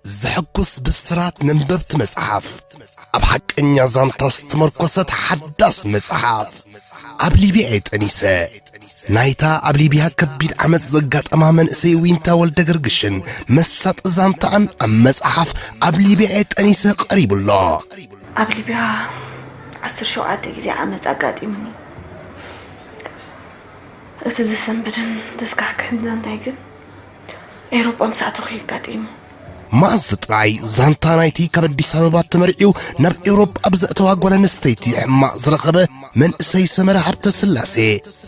ዘሐጉስ ብስራት ነንበብቲ መጽሓፍ ኣብ ሓቀኛ ዛንታ ዝተመርኮሰት ሓዳስ መጽሓፍ ኣብ ሊብያ እየ ጠኒሰ ናይታ ኣብ ሊብያ ከቢድ ዓመፅ ዘጋጠማ መንእሰይ ዊንታ ወልደ ገርግሽን መሳጢ ዛንታኣን ኣብ መጽሓፍ ኣብ ሊብያ እየ ጠኒሰ ቀሪቡ ኣሎ ኣብ ሊብያ ዓስር ሸውዓተ ግዜ ዓመፅ ኣጋጢሙኒ እቲ ዘሰንብድን ዘስካሕክሕን ዛንታይ ግን ኤሮጳ ምስ ኣተኹ እዩ ኣጋጢሙ። መኣዝ ጥራይ ዛንታ ናይቲ ካብ ኣዲስ ኣበባ ተመርዒው ናብ ኤውሮጳ ብዘእተዋ ጓል ኣንስተይቲ ሕማቕ ዝረኸበ መንእሰይ ሰመረ ሃብተ ስላሴ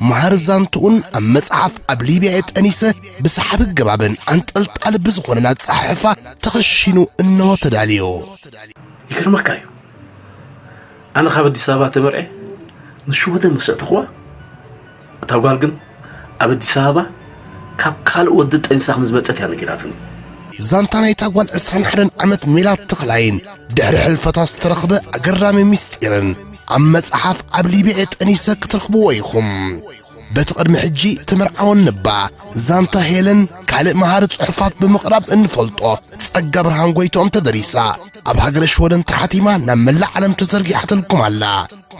መሃር ዛንትኡን ኣብ መጽሓፍ ኣብ ሊብያ የጠኒሰ ብሰሓቢ ገባብን ኣንጠልጣሊ ብዝኾነን ኣጸሓሕፋ ተኸሺኑ እነሆ ተዳልዮ ይገርመካ እዩ ኣነ ካብ ኣዲስ ኣበባ ተመርዐ ንሽወደን መሰእተኹዋ እታ ጓል ግን ኣብ ኣዲስ ኣበባ ካብ ካልእ ወዲ ጠንሳ ከም ዝመጸት እያ ነጊራትኒ ዛንታ ናይታ ጓል 21 ዓመት ሜላት ተኽላይን ድሕሪ ሕልፈታ ዝተረኽበ ኣገራሚ ምስጢርን ኣብ መጽሓፍ ኣብ ሊብየ ጠኒሰ ክትረኽብዎ ኢኹም በቲ ቅድሚ ሕጂ ትምርዓወን ንባ ዛንታ ሄለን ካልእ መሃሪ ጽሑፋት ብምቕራብ እንፈልጦ ጸጋ ብርሃን ጎይትኦም ተደሪሳ ኣብ ሃገረ ሽወደን ተሓቲማ ናብ መላእ ዓለም ተዘርጊሓትልኩም ኣላ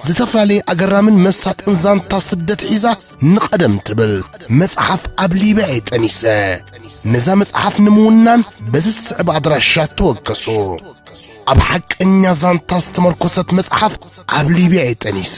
ዝተፈላለየ ኣገራምን መሳጥን ዛንታ ስደት ሒዛ ንቐደም ትብል መጽሓፍ ኣብ ሊብያ እየ ጠኒሰ ነዛ መጽሓፍ ንምውናን በዚ ዝስዕብ ኣድራሻ ተወከሱ ኣብ ሓቀኛ ዛንታ ዝተመርኮሰት መጽሓፍ ኣብ ሊብያ እየ ጠኒሰ